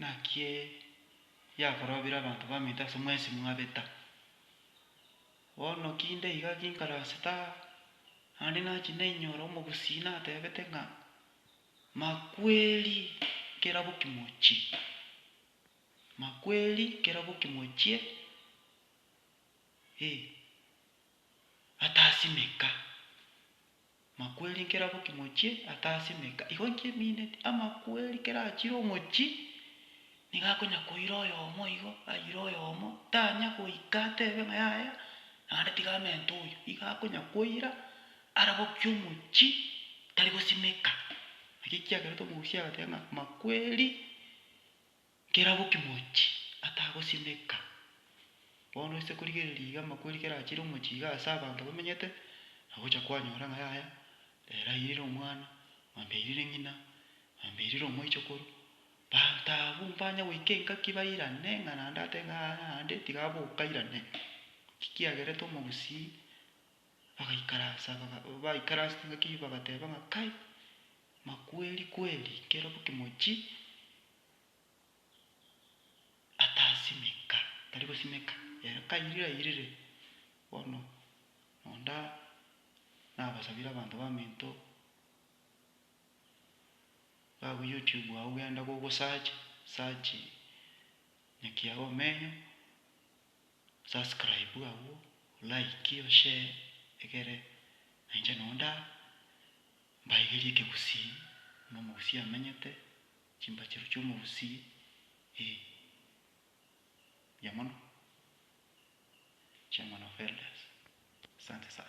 Naki yakorobire abanto baminto ase mwensi mwabeta. Bono ki inde iga ginkarasete aa? Naende nachi nainyore omogusii natebete ng'a, Makweri kerabo kimochie, makweri kerabo kimochie, ee, atasimeka. Makweri nkera boki mochie ata ase emeka igo inki emineti, amakweri kera achire omochi nigo akonya koira oyomo igo, aire oyomo tanya goika atebe ng'a yaya naende tiga amente oyo, igo akonya koira ara boki omochi tari gosimeka. Naki kiagerete omogusi agateba ng'a makweri. Nkera bo kimochi atagosineka. Bono ase korigereria iga amakweri kera achire omochie iga ase abanto bamenyete, nagocha kwanyora ng'a yaya, ere airire omwana, mwambia airire ng'ina, mwambia airire omoichokoro, banto abwo mbanya goika engaki bairane ng'a naende atebe ng'a yaya naende tiga abe okairane. Naki kiagerete omogusii bagaikaransa baga baikaransete engaki eyio bagateba ng'a kai, makweri kweri, nkera bo kimochi atasimeka, tari gosimeka, ere kairire airire, bono nonda nabasabire abanto baminto, gabwe youtube agwo genda gogo search, search nyakiago omenyo, subscribe agwo, like oshare, egere nainche nonda, mbaigerie ekegusii, buna omogusii amenyete. Chimbachero chi'omorusie, ee, mbuya mono, Chairman of Elders, asante sana.